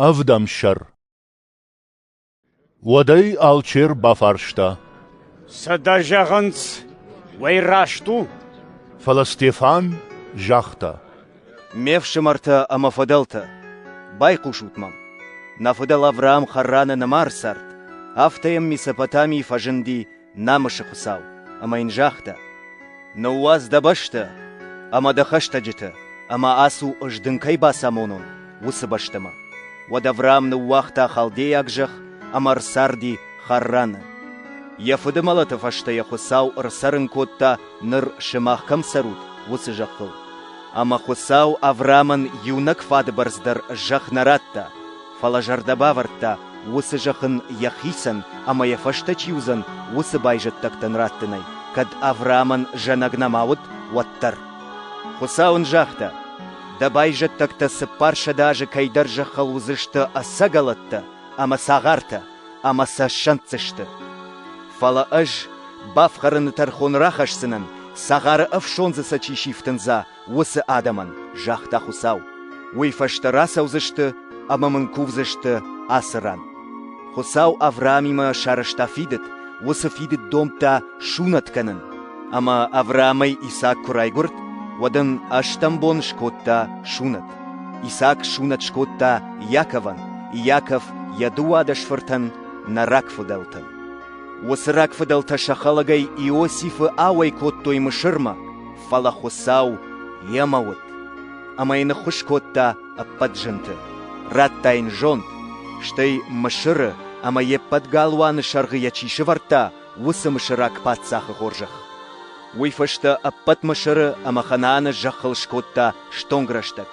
Ӕвдӕмсӕр Уӕдӕй алчер бафарста. Сӕдӕ зӕгъынц, уӕй раст у? Фӕлӕ Стефан загъта. Ме фсымӕртӕ ӕмӕ фыдӕлтӕ, байхъусут мӕм. Нӕ фыдӕл Авраам Харраны нымӕр цард, афтӕ йӕм Месопотамийы фӕзынди намысы Хуыцау, ӕмӕ йын загъта: «Ныууадз дӕ бӕстӕ ӕмӕ дӕ хӕстӕджытӕ, ӕмӕ ацу, ӕз дын кӕй бацамонон, уыцы бӕстӕмӕ». Уӕд Авраам ныууагъта халдейаг зӕхх ӕмӕ ӕрцарди Харраны. Йӕ фыды мӕлӕты фӕстӕ йӕ Хуыцау ӕрцӕрын кодта, ныр сымах кӕм цӕрут, уыцы зӕххыл. Ӕмӕ Хуыцау Авраамӕн иунӕг фадыбӕрц дӕр зӕхх нӕ радта, фӕлӕ зӕрдӕ бавӕрдта, уыцы зӕхх ын йӕхицӕн ӕмӕ йӕ фӕстӕ чи уыдзӕн, уыцы байзӕддӕгтӕн раттынӕй, кӕд Авраамӕн зӕнӕг нӕма уыд, уӕддӕр. Хуыцау ын загъта, дӕ байзӕддӕгтӕ цыппарсӕдӕ азы кӕйдӕр зӕххыл уыдзысты ӕцӕгӕлӕттӕ ӕмӕ цагъартӕ, ӕмӕ сӕ ссӕнддзысты. Фӕлӕ ӕз бафхӕрыны тӕрхон рахӕсдзынӕн, цагъары ӕфсондзы сӕ чи сифтындза, уыцы адӕмӕн, загъта Хуыцау. Уый фӕстӕ рацӕудзысты ӕмӕ мын кувдзысты ацы ран. Хуыцау Авраамимӕ сарӕзта фидыд, уыцы фидыд домдта сунӕт кӕнын. Ӕмӕ Авраамӕй Исаак куы райгуырд, уӕд ын ӕстӕм бон скодта сунӕт. Исаак сунӕт скодта Иаковӕн, Иаков йӕ дыууадӕс фыртӕн, нӕ рагфыдӕлтӕн. Уыцы рагфыдӕлтӕ сӕ хӕлӕгӕй Иосифы ауӕй кодтой Мысырмӕ, фӕлӕ Хуыцау йемӕ уыд, ӕмӕ йын ныххуыс кодта ӕппӕт зынты. Радта йын зонд, стӕй Мысыры ӕмӕ йе ппӕт галуаны сӕргъы йӕ чи сӕвӕрдта, уыцы мысыраг паддзахы хорзӕх. Уый фӕстӕ ӕппӕт Мысыры ӕмӕ Ханааны зӕххыл скодта стонг рӕстӕг.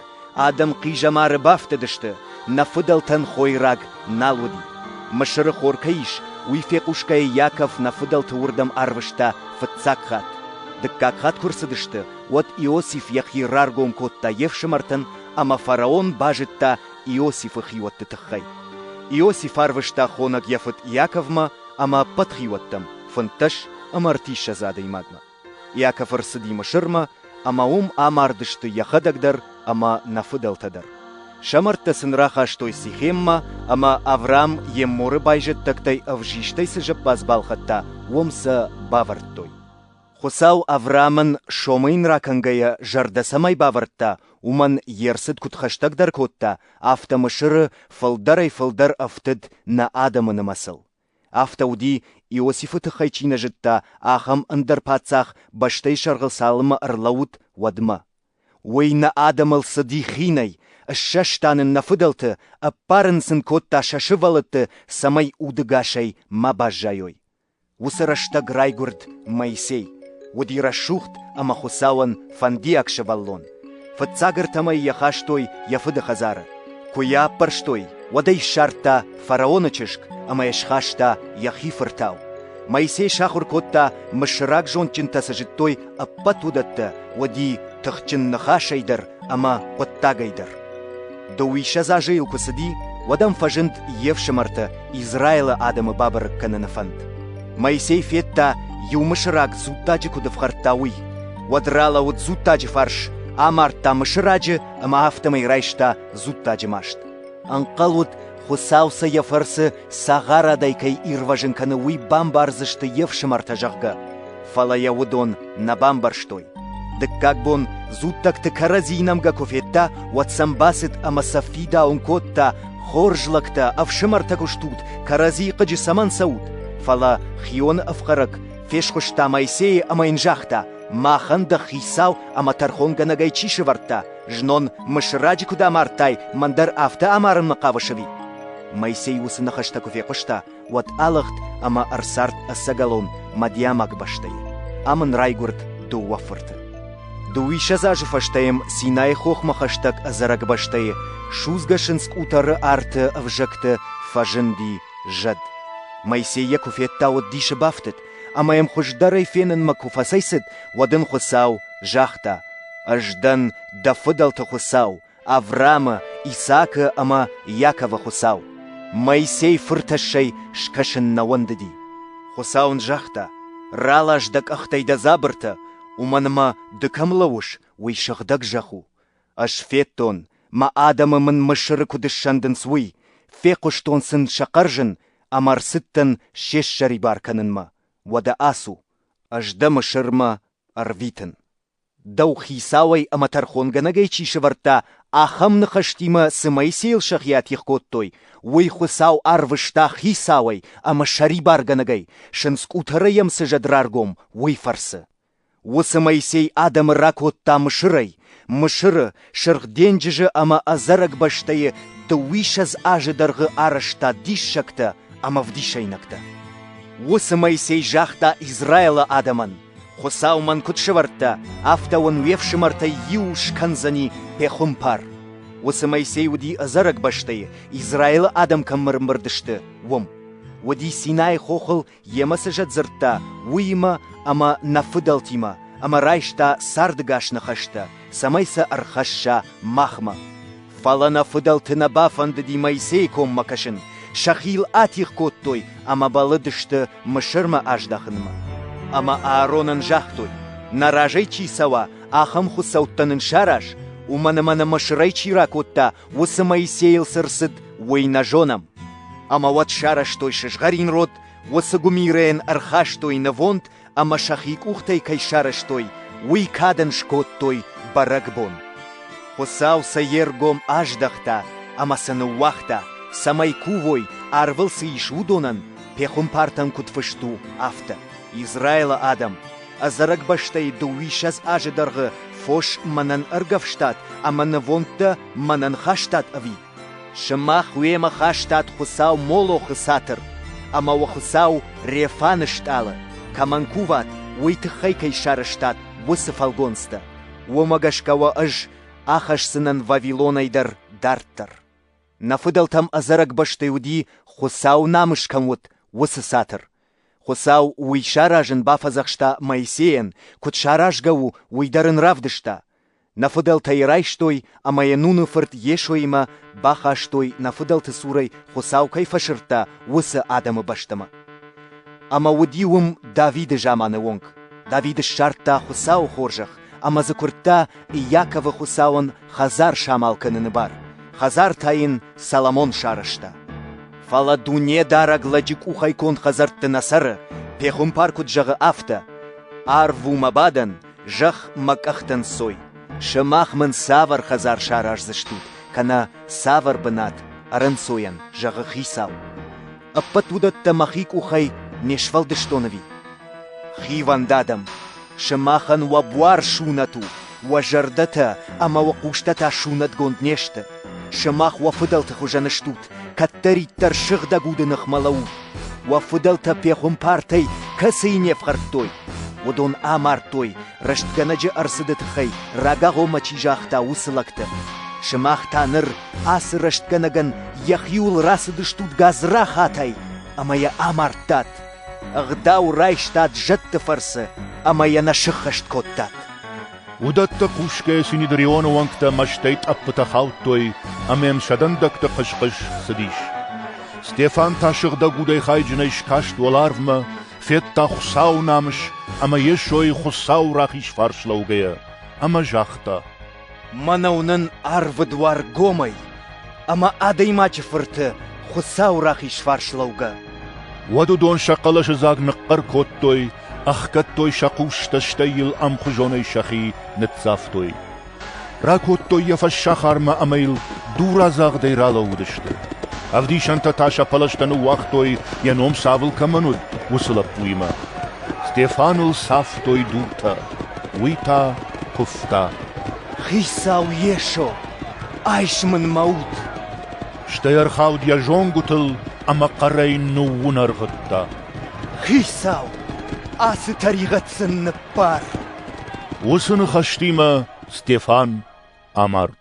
Адӕм хъизӕмары бафтыдысты, нӕ фыдӕлтӕн хойраг нал уыди. Мысыры хор кӕй ис, уый фехъусгӕйӕ Иаков нӕ фыдӕлты уырдӕм арвыста фыццаг хатт. Дыккаг хатт куы рцыдысты, уӕд Иосиф йӕхи раргом кодта йе фсымӕртӕн ӕмӕ фараон базыдта Иосифы хиуӕтты тыххӕй. Иосиф арвыста хонӕг йӕ фыд Иаковмӕ ӕмӕ ӕппӕт хиуӕттӕм, фынддӕс ӕмӕ ӕртиссӕдз адӕймагмӕ. Иаков ӕрцыди Мысырмӕ, ӕмӕ уым амардысты йӕхӕдӕг дӕр ӕмӕ нӕ фыдӕлтӕ дӕр. Сӕ мӕрдтӕ сын рахастой Сихеммӕ, ӕмӕ Авраам Емморы байзӕддӕгтӕй ӕвзистӕй цы зӕппадз балхӕдта, уым сӕ бавӕрдтой. Хуыцау Авраамӕн сомы йын ракӕнгӕйӕ зӕрдӕ цӕмӕй бавӕрдта, уымӕн йе рцыд куыд хӕстӕгдӕр кодта, афтӕ Мысыры фылдӕрӕй-фылдӕр ӕфтыд нӕ адӕмы нымӕцыл. Афтӕ уыди, Иосифы тыххӕй чи нӕ зыдта, ахӕм ӕндӕр паддзах бӕстӕйы сӕргъыл цалынмӕ ӕрлӕууыд, уӕдмӕ. Уый нӕ адӕмыл цыди хинӕй, ссӕста нын нӕ фыдӕлты, ӕппарын сын кодта сӕ сывӕллӕтты, цӕмӕй удыгасӕй ма баззайой. Уыцы рӕстӕг райгуырд Моисей, уыди рӕсугъд ӕмӕ Хуыцауӕн фӕндиаг сывӕллон. Фыццаг ӕртӕм ӕй йӕ хастой йӕ фыды хӕдзары. Куы йӕ аппӕрстой, уӕд ӕй ссардта фараоны чызг ӕмӕ йӕ схаста йӕхи фыртау. Моисей сахуыр кодта, мысыраг зондджынтӕ цы зыдтой ӕппӕт уыдӕттӕ, уыди тыхджын ныхасӕй дӕр ӕмӕ хъуыддагӕй дӕр. Дыууиссӕдз азы йыл куы цыди, уӕд ӕм фӕзынд йе фсымӕртӕ Израилы адӕмы бабӕрӕг кӕныны фӕнд. Моисей федта, иу мысыраг дзуттаджы куыд ӕфхӕрдта, уый. Уӕд ралӕуд дзуттаджы фарс, амардта мысыраджы ӕмӕ афтӕмӕй райста дзуттаджы маст. Ӕнхъӕл уыд, Хуыцау сӕ йӕ фӕрцы Цагъарадӕй кӕй ирвӕзын кӕны, уый бамбардзысты йе фсымӕртӕ, зӕгъгӕ. Фӕлӕ йӕ уыдон нӕ бамбӕрстой. Дыккаг бон дзуттӕгты кӕрӕдзийы нӕмгӕ куы федта, уӕд сӕм бацыд ӕмӕ сӕ фидауын кодта, хорз лӕгтӕ, ӕфсымӕртӕ куы стут, кӕрӕдзийы хъыджы цӕмӕн цӕут? Фӕлӕ Хионы ӕфхӕрӕг фесхуыста Моисейы ӕмӕ йын загъта, «Махӕн дӕ хицау ӕмӕ тӕрхонгӕнӕгӕй чи сӕвӕрдта, Знон мысраджы куыд амардтай, мӕн дӕр афтӕ амарынмӕ хъавыс ӕви? Моисей уыцы ныхӕстӕ куы фехъуыста, уӕд алыгъд ӕмӕ ӕрцард ӕцӕгӕлон Мадиамаг бӕстӕйы. Ам ын райгуырд дыууӕ фырты. Дыууиссӕдз азы фӕстӕ йӕм Синайы хохмӕ хӕстӕг ӕдзӕрӕг бӕстӕйы судзгӕ сындз къутӕры арты ӕвзӕгты фӕзынди зӕд. Моисей йӕ куы федта, уыд дисы бафтыд, Ӕмӕ йӕм хуыздӕрӕй фенынмӕ куы фӕцӕйцыд, уӕд ын Хуыцау загъта: «Ӕз дӕн дӕ фыдӕлты Хуыцау, Авраамы, Исаакы ӕмӕ Иаковы Хуыцау. Моисей фыртӕссӕй скӕсын нӕ уӕндыди». Хуыцау ын загъта: «Ралас дӕ къӕхтӕй дӕ дзабыртӕ, уымӕн ӕмӕ ды кӕм лӕууыс, уый сыгъдӕг зӕхх у. Ӕз федтон, мӕ адӕмы мын Мысыры куыд ссӕндынц, уый, фехъуыстон сын сӕ хъӕрзын ӕмӕ ӕрцыдтӕн се ссӕрибар кӕнынмӕ. Уӕдӕ ацу, ӕз дӕ Мысырмӕ ӕрвитын. Дӕу хицауӕй ӕмӕ тӕрхонгӕнӕгӕй чи сӕвӕрдта, ахӕм ныхӕстимӕ цы Моисейыл сӕхи атигъ кодтой, уый Хуыцау арвыста хицауӕй ӕмӕ сӕрибаргӕнӕгӕй, сындзкъутӕрӕй йӕм цы зӕд раргом, уый фӕрцы. Уыцы Моисей адӕмы ракодта Мысырӕй, Мысыры, Сырх денджызы ӕмӕ ӕдзӕрӕг бӕстӕйы дыууиссӕдз азы дӕргъы арӕзта диссӕгтӕ ӕмӕ вдисӕйнӕгтӕ. Уыцы Моисей загъта Израилы адӕмӕн: «Хуыцау мӕн куыд сӕвӕрдта, афтӕ уын уе фсымӕртӕй иу скӕндзӕни пехуымпар». Уыцы Моисей уыди ӕдзӕрӕг бӕстӕйы, Израилы адӕм кӕм мырмырд сты, уым. Уыди Синайы хохыл Йемӕ цы зӕд дзырдта, уыимӕ ӕмӕ нӕ фыдӕлтимӕ ӕмӕ райста цардӕгас ныхӕстӕ, цӕмӕй сӕ ӕрхӕсса махмӕ. Фӕлӕ нӕ фыдӕлты нӕ бафӕндыди Моисейы коммӕ кӕсын, сӕхи йыл атигъ кодтой ӕмӕ бӕллыдысты Мысырмӕ аздахынмӕ. Ӕмӕ Ааронӕн загътой, нӕ разӕй чи цӕуа, ахӕм хуыцӕуттӕ нын сараз, уымӕн ӕмӕ нӕ Мысырӕй чи ракодта, Уыцы Моисейыл цы рцыд, уый нӕ зонӕм. Ӕмӕ уӕд сарӕзтой сызгъӕрин род, уыцы гуымирӕйӕн ӕрхастой нывонд ӕмӕ сӕхи къухтӕй кӕй сарӕзтой, уый кадӕн скодтой бӕрӕгбон. Хуыцау сӕ йе ргом аздӕхта ӕмӕ сын ныууагъта, цӕмӕй кувой, арвыл цы ис, уыдонӕн, пехуымпартӕн куыд фыст у, афтӕ. Израилы адӕм, Ӕдзӕрӕг бӕстӕй дыууиссӕдз азы дӕргъы фос мӕнӕн ӕргӕвстат ӕмӕ нывондтӕ мӕнӕн хастат ӕви? Сымах уемӕ хастат Хуыцау Молохы цатыр, ӕмӕ уӕ Хуыцау Рефаны стъалы, кӕмӕн куват, уый тыххӕй кӕй сарӕзтат уыцы фӕлгонцтӕ. Уымӕ гӕсгӕ уӕ ӕз ахӕсдзынӕн Вавилонӕй дӕр дарддӕр. Нӕ фыдӕлтӕм ӕдзӕрӕг бӕстӕй уыди, Хуыцау намыс кӕм уыд, уыцы цатыр, Хуыцау уый саразын бафӕдзӕхста Моисейӕн, куыд саразгӕ у, уый дӕр ын равдыста. Нӕ фыдӕлтӕ йӕ райстой ӕмӕ йӕ Нуны фырт Йесоимӕ бахастой, нӕ фыдӕлты цурӕй Хуыцау кӕй фӕсырдта, уыцы адӕмы бӕстӕмӕ. Ӕмӕ уыди уым Давиды заманы онг. Давид ссардта Хуыцауы хорзӕх ӕмӕ дзы куырдта Иаковы Хуыцауӕн Хӕдзар самал кӕныны бар, хӕдзар та йын Соломон сарӕзта. Фӕлӕ Дунедарӕг лӕджы къухӕй конд хӕдзӕртты нӕ цӕры, пехуымпар куыд зӕгъы, афтӕ. Арв у мӕ бадӕн, зӕхх мӕ къӕхтӕ нцой. Сымах мын цавӕр хӕдзар сараздзыстут, кӕнӕ цавӕр бынат ӕрӕнцойӕн, зӕгъы хицау. Ӕппӕт уыдӕттӕ мӕхи къухӕй не сфӕлдыстон ӕви? Хивӕнд адӕм, сымахӕн уӕ буар сунӕт у, уӕ зӕрдӕтӕ ӕмӕ уӕ хъустӕ сунӕтгонд не сты. Сымах уӕ фыдӕлты хуызӕн стут, кӕддӕриддӕр сыгъдӕг уды ныхмӕ лӕуд. Уӕ фыдӕлтӕ пехуымпартӕй кӕцыйы не фхӕрдтой, уыдон амардтой, рӕстгӕнӕджы ӕрцыды тыххӕй рагагъомӕ чи загъта, уыцы лӕгты. Сымах та ныр Ацы рӕстгӕнӕгӕн йӕхиуыл рацыдыстут гадзрахатӕй ӕмӕ йӕ амардтат. Ӕгъдау райстат зӕдты фӕрцы ӕмӕ йӕ нӕ сыххӕст кодтат. Уыдӕттӕ кусгӕ Синедрионы уӕнгтӕ мӕстӕй тъӕппытӕ хаудтой ӕмӕ йын сӕ дӕндӕгты хъыс-хъыс цыдис. Стефан та сыгъдӕг удӕй хайджынӕй скаст уӕларвмӕ, федта Хуыцауы намыс ӕмӕ Йесойы Хуыцауы рахиз фарс лӕугӕйӕ, ӕмӕ загъта: Мӕнӕ уынын Арвыдуар гомӕй ӕмӕ Адӕймаджы Фырты Хуыцауы рахиз фарслӕугӕ. Уӕд уыдон сӕ хъӕлӕсы дзаг ныхъхъӕр кодтой, ӕхгӕдтой сӕ хъустӕ, стӕй йыл ӕмхуызонӕй сӕхи ныццавтой. Ракодтой йӕ фӕссахармӕ ӕмӕ йыл дурадзагъдӕй ралӕууыдысты. Ӕвдисӕнтӕ та сӕ пӕлӕзтӕ ныууагътой, йӕ ном цавыл кӕмӕн уыд, уыцы лӕппуимӕ. Стефаныл цавтой дуртӕ. Уый та куывта. «Хицау Йесо, айс мын мӕ уд!» Стӕй ӕрхауд йӕ зонгуытыл ӕмӕ хъӕрӕй ныууынӕргъыдта. «Хицау, ацы тӕригъӕд сын ныббар!» Уыцы ныхӕстимӕ Стефан амард.